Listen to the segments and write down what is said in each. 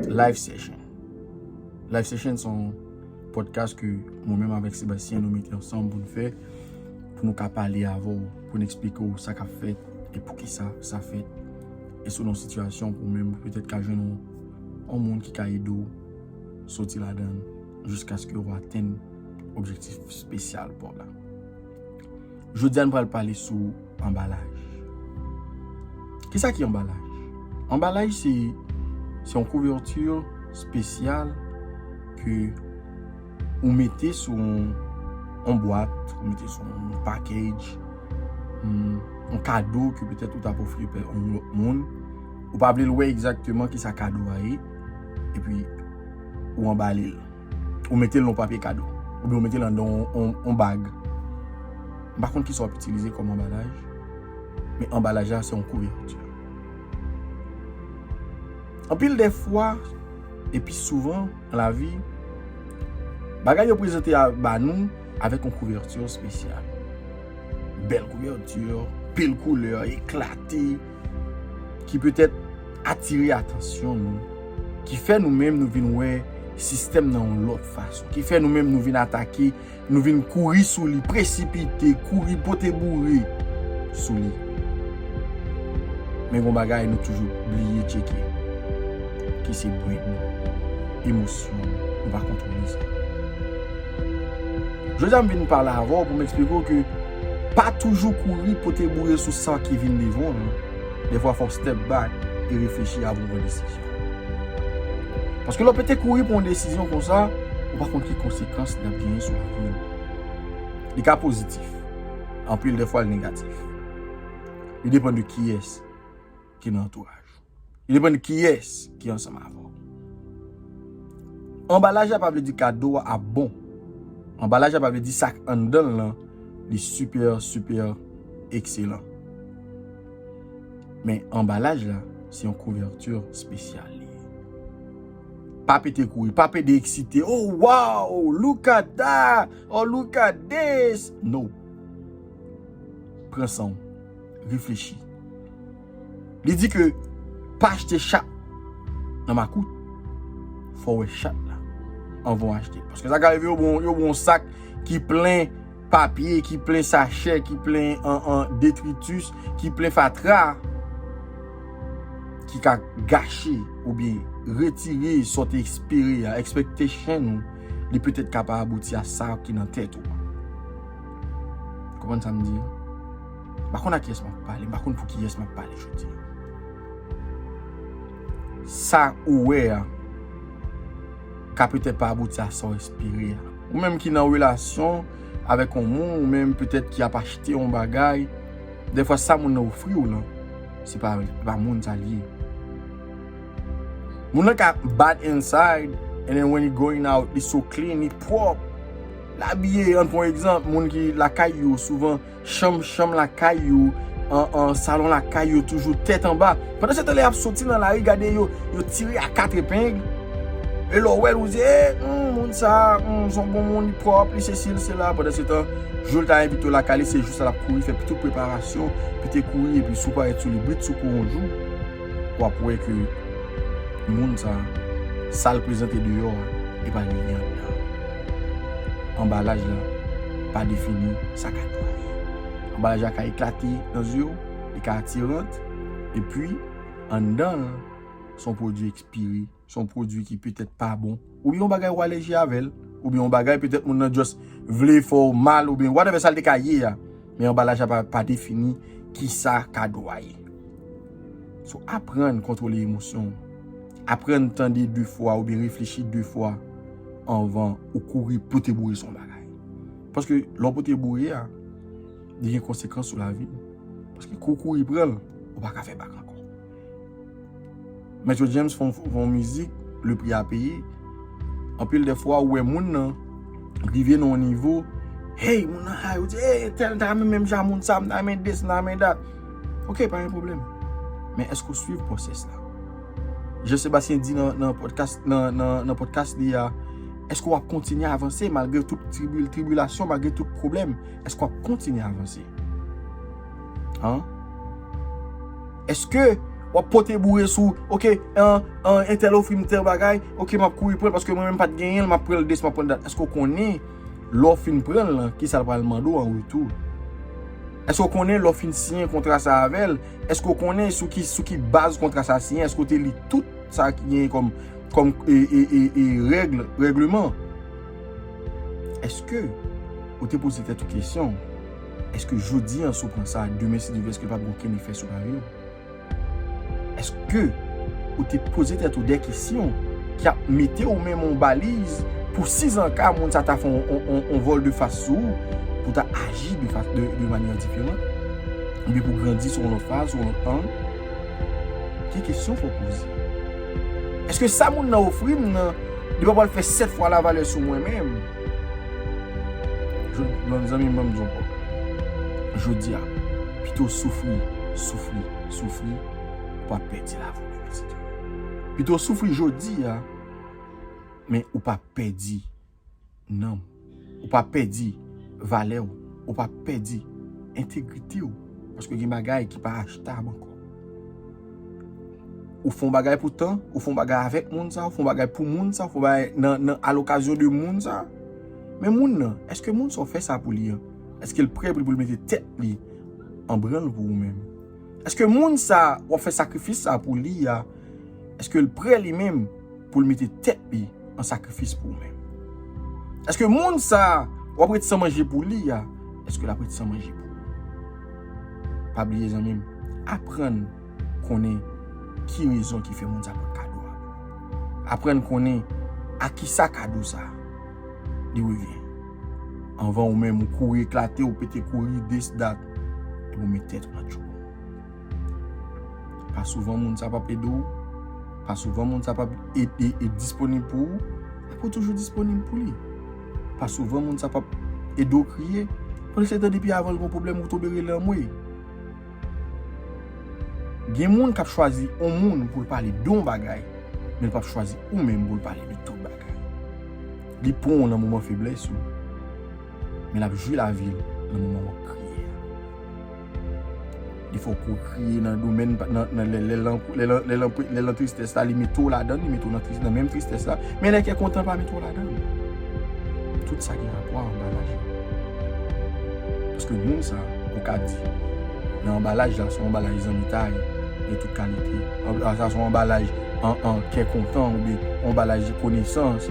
Live Session Live Session son podcast ke mwen menm avèk Sébastien nou mete ansanm pou nou fè pou nou ka pale avè ou, pou nou eksplike ou sa kap fèt e pou ki sa sa fèt e sou nou sitiyasyon ou menm pou petèt ka jwenn ou moun ki ka ede ou soti la dan jiskaske ou atenn objektif spesyal pou ou la. Jodi a nou pral pale sou anbalaj. Kisa ki anbalaj? Anbalaj se yon kouverti spesyal ke ou mete sou yon bwat, ou mete sou yon package, yon kado ke petèt ou ta pou ofri pe yon lòt moun. Ou pa vle l wè egzakteman kisa kado a ye, epi ou anbale l. Ou mete l nan yon papye kado. Oubyen ou mete l anndan yon bag. M pa konn kisa w ap itilize kòm anbalaj. Men anbalaj la se yon kouvèti. Anpil de fwa, epi souvan nan lavi, bagay yo prezante ba nou avèk yon kouvèti espesyal. Bèl kouvèti, pil koulè, eklate. ki petèt atire atansyon nou, ki fè nou menm nou vin wè sistèm nan yon lòt fason, ki fè nou menm nou vin atake, nou vin kouri sou li, presipite, kouri pote boure sou li. Men gon bagay nou toujou bliye tcheke, ki se bren nou, emosyon nou, nou pa kontwole sa. Jodi a m vin pale avè w pou m eksplike w ke, Pa toujou kouri pote boure sou san ki vin devan w non. Dèfwa fò w step back e reflechi avan w pran desizyon. Paske lè w pete kouri pran yon desizyon konsa, ou pa konn ki konsekans li ap genyen sou lavi w. Li ka pozitif, anpil dèfwa l negatif. Li depann de kiyès ki nan antouraj ou. Li depann kiyès ki ansanm avè w. Anbalaj la pa vle di kado a ap bon. Anbalaj la pa vle di sa k anndan l lan li sipè sipè ekselan. Men anbalaj la se yon kouvèti spesyal li ye. Pa pete kouri, pa pede eksite, o waw, look at that, or look at this, no. Pran san w, reflechi. Li di ke pa achte chat nan makout. Fò wè chat la anvan w achte. Paske sa ka rive yo ban w yon sak ki plen papye, ki plen sachè, ki plen detritus, ki plen fatra. Ki ka gache oubyen retire sa w te espere a, expectation ou. Li petèt ka pa abouti a sa ki nan tèt ou. Konprann sa m di a? M pa konn ak kiyès m ap pale, m pa konn pou kiyès m ap pale jodi a. Sa ou wè a ka petèt pa abouti a sa ou espere a. Ou menm ki nan relasyon avèk yon moun, ou menm petèt ki ap achte yon bagay, dèfwa sa moun nan ofri ou lan, se pa moun sa l ye. Moun nan ka bad inside and then when he going out, li so clean, li pwòp, l abiye. An pran yon egzanp, moun ki lakay yo souvan Chanm chanm lakay yo, salon lakay yo toujou tèt anba. Pandan se tan lè y ap soti nan lari gade yo tire a kat epeng. E lè w wè l ou di e humm moun sa a humm s on bon moun li pwòp li sesi li sela. Pandan se tan jou l ta envite w lakay li se jou sa l ap kouri fè tout preparasyon pou te kouri epi si w parèt sou li britsoukou yon jou w ap wè ke moun sa a sa l prezante deyò a e pa li ki anndan. Anbalaj la pa defini. sa ka netwaye. Anbalaj la ka eklate nan zye w, li ka atirant, epi anndan l se yon pwodui ekspire, se yon pwodui ki petèt pa bon, oubyen yon bagay ou alèji avè l, oubyen yon bagay petèt moun nan just vle fè w mal oubyen whatever sa l te ka ye a, men anbalaj la pa defini ki sa ka netwaye. So aprann kontwole emosyon w, aprann tande 2 fwa oubyen reflechi 2 fwa anvan ou kouri pou te bouyi sou yon bagay. Paske lè w pote boure a, li gen konsekans sou lavi w. Paske kou w kouri pran l, ou pa ka fè bak ankò. Metro James fè yon mizik, Le Prix à Payer, anpil de fwa ou wè moun nan rive nan yon nivo, hey, moun nan high, ou di, hey, entèl m ta renmen menm jan ak moun sa, m ta renmen this, m ta renmen that. Ok, pa gen pwoblèm. Men èske ou suiv pwosès la? Jean Sébastien di nan podcast li a, Eske w ap kontinye avanse malgre tout tribilasyon, malgre tout pwoblèm? Eske w ap kontinye avanse? Eske w ap pote boure sou, ok, entèl ofri m tèl bagay, ok, m ap kouri pran l paske mwen menm pa t genyen l, m ap pran l des, m ap pran l dat. Eske w konnen lè w fin pran l lan, kisa l pral mande w an retou? Eske w konnen lè w fin siyen kontra sa avè l? Eske ou konnen sou ki sou ki baz kontra sa siyen? Eske ou te li tout sa ki genyen kòm kòm e e e e règle, règleman? Eske ou te poze tèt ou kesyon, eske jodi an si w pran sa, demen si Dye vle eske l pa p gen okenn efè sou lavi w? Eske ou te poze tèt ou de kesyon ki ap mete ou menm yon baliz pou sizanka moun sa ta fè yon yon yon yon volte-face sou ou pou w ta aji de fa de manyè diferan? Oubyen pou grandi sou yon lòt faz, sou yon lòt ang, gen kesyon fòk poze. Eske sa moun nan ofri m nan, li pa pwal fè 7 fwa la valè sou mwen menm? Yon zanmi m ban m di yon kòb. Jodi a, pito w soufri, soufri, soufri, ou pa pèdi la vi w demen se demen. Pito w soufri jodi a, men ou pa pèdi. nanm ou, ou pa pèdi valè ou, ou pa pèdi entegrite ou, paske gen bagay ki pa achtab ankò. Ou fè yon bagay pou tan, ou fè yon bagay avèk moun sa, ou fè yon bagay pou moun sa, ou fè yon bagay nan, nan, a l'occasion de moun sa, men moun nan, èske moun sa ou fè sa pou li an, èske'l prè pou li mete tèt li anbranle pou ou menm? Eske moun sa wap fè sakrifis sa pou li a, eske l prè li menm pou l mete tèt li an sakrifis pou ou menm? Eske moun sa wap ret san manje pou li a, eske lap ret san manje pou ou? Pa bliye zanmi m, aprann konnen ki rezon ki fè moun sa pot kado a. Aprann konnen a kisa kado sa li revyen. Anvan ou menm ou kouri eklate ou pete kouri this that. e pou met tèt an tchoul. Pa souvan moun sa pap ede ou, pa souvan moun sa pap ede e disponib pou ou, e pou toujou disponib pou li. Pa souvan moun sa pap ede ou kriye, pou l se te depi avan l gon pwoblèm ou tonbe rele anmwey. Gen moun kap chwazi on moun pou l pale don bagay, men l pap chwazi ou menm pou l pale de tout bagay. Li pran w nan moman feblès ou. Men lap jwi lavi l nan moman wap kriye a. Defo kou kriye nan domèn lè lan tristès la li mete w ladan li mete w nan menm tristès la men lè kè kontan pa mete w ladan. Tout sa gen rapò a anbalaj la. Paske moun sa ou ka di nan anbalaj la son anbalaj zanmitay de tout kalite. Sa son anbalaj. an kè kontan oubyen yon balaj de konesans,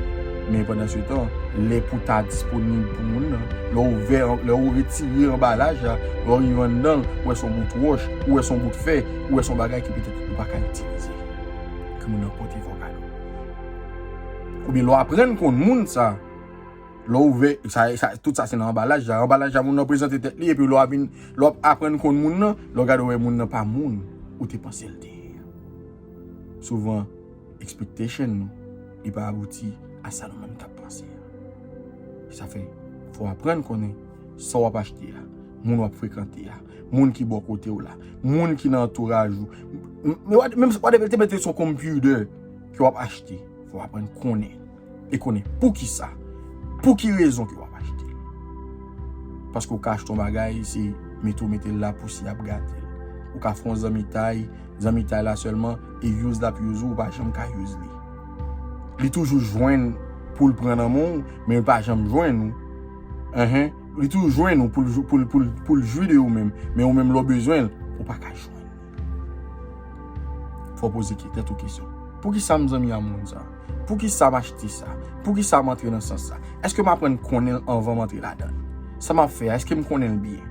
men pandan se tan, lè pou ta disponib pou moun nan, lè ou ouvè, lè ou retire anbalaj la, lè ou rive anndan l, ou wè se yon bout wòch, ou wè se yon bout fè, ou wè se yon bagay ki petèt ou pa ka itilize, ke moun nan pote fè w kado. Oubyen lè w aprann konn moun sa, lè ou ouvè, sa, sa, tout sa se nan anbalaj la, anbalaj la moun nan prezante tèt li epi lè w ap vin, lè w ap aprann konn moun nan, lè w gade w wè moun nan pa moun ou te panse l te ye a. Souvan expectation nou li pa abouti a sa nou menm tap panse a. Sa fè fò w aprann konnen sa w ap achte a, moun w ap frekante a, moun ki bò kote w la, moun ki nan antouraj ou. Menm si w pa te mete l se yon computer ke w ap achte, fò w aprann konnen. e konnen pou ki sa, pou ki rezon ke w ap achte l. Paske w ka achte yon bagay, se mete w mete l la pou si y ap gate l. Ou ka fè yon zanmitay, zanmitay la sèlman, e use l ap use ou, ou pa janm ka use li. Li toujou jwenn pou l pran nan men w, men li pa janm jwenn ou. Enhen, li toujou jwenn ou pou l pou l pou l pou l jwi de ou menm, men ou menm lè w bezwen l, ou pa ka jwenn li. Fò poze ki tèt ou kesyon. Poukisa m zanmi a moun sa? Poukisa m achte sa? Poukisa m antre nan sans sa? Eske m aprann konnen l anvan m antre ladan l? Sa m ap fè a, eske m konnen l byen?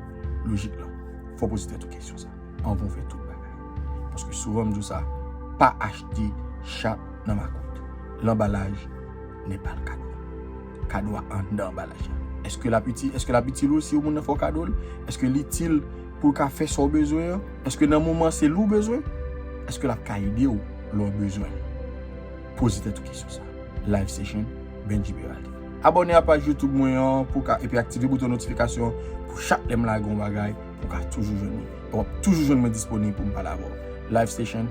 Lojik lan, fò poze tèt ou kesyon sa anvan ou fè tout bagay. Paske souvan m di w sa, pa achte chat nan makout. Lanbalaj ne pa l kado. Kado a anndan anbalaj la. Eske l ap itil, eske l ap itil ou si yon moun nan fè w kado l? Eske l itil pou l ka fè sa w bezwen an? Eske nan moman an se li w bezwen? Eske l ap ka ede w lè w bezwen li? Poze tèt ou kesyon sa. Live Session, Bendji Beraldi. Abòne a paj YouTube mwen an pou w ka epi aktive bouton notifikasyon an pou chak lè m lage yon bagay ou ka toujou jwenn li. E w ap toujou jwenn mwen disponib pou m pale avè w. Live Session.